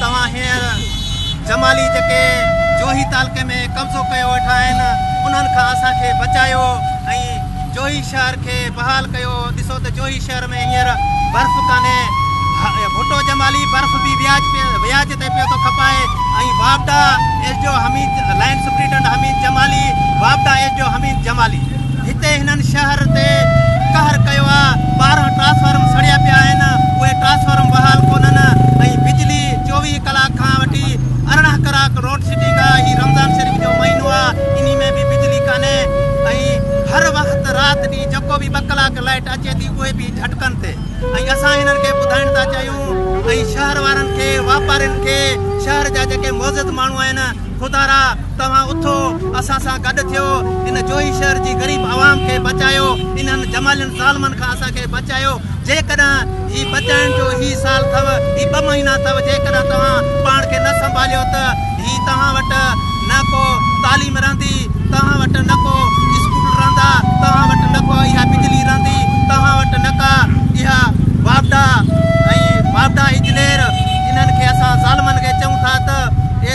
توهان هينئر جمالي جيڪي جوهي تعلقي ۾ قبضو ڪيو ويٺا آهن انهن کان اسان کي بچايو ۽ جوهي شهر کي بحال ڪيو ڏسو ته جوهي شهر ۾ هينئر برف ڪانهي ڀٽو جمالي برف به وياج تي پيو ٿو کپائي ۽ واپڊا S D O Hamid line superintending Hamid Jamali واپڊا S D O Hamid Jamali هتي هنن شهر تي قهر ڪيو آ، ٻارهن ٽرانسفارم سڙيا پيا آهن، اهي ٽرانسفارم بحال ڪونهن ۽ بجلي چوويهه ڪلاڪ کان وٺي ارڙهن ڪراڪ روڊ سيٽنگ آ، هي رمضان شريف جو مهينو آ، انهي ۾ به بجلي ڪانهي ۽ هر وقت رات ڏينهن جيڪو به ٻه ڪلاڪ لائيٽ اچي ٿي اهي به جهٽڪن تي ۽ اسان هنن کي ٻڌائڻ ٿا چاهيون ۽ شهر وارن کي واپارين کي شهر جا جيڪي معزز ماڻهو آهن خدارا توهان اٿو اسان سان گڏ ٿيو ان جوهي شهر جي غريب عوام کي بچايو انهن جمالين ظالمن کان اسان کي بچايو جيڪڏهن هي بچائڻ جو هي سال ٿو هي ٻه مهينا ٿو جيڪڏهن توهان پاڻ کي نه سنڀاليو ته هي توهان وٽ نه ڪو تعليم رهندي توهان وٽ نه ڪو اسڪول رهندا توهان وٽ نه ڪو اها بجلي رهندي توهان وٽ نه ڪا اها واپڊا ۽ واپڊا اجلير انهن کي اسان ظالمن کي چئون ٿا ته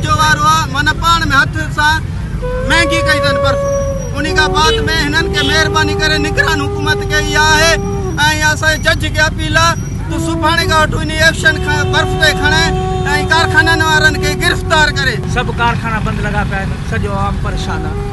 جو وارو آ من پاڻ ۾ هٿ سان مهنگي ڪئي اٿن برف انهي کان بعد ۾ هنن کي مهرباني ڪري نگران حڪومت کي اها آهي ۽ اسان جي جج کي اپيل آ تو سڀاڻي کان وٺو انهي ايفشن کي برف تي کڻي ۽ ڪارخانن وارن کي گرفتار ڪري. سڀ ڪارخانا بند لڳا پيا آهن سڄو عوام پريشان آ.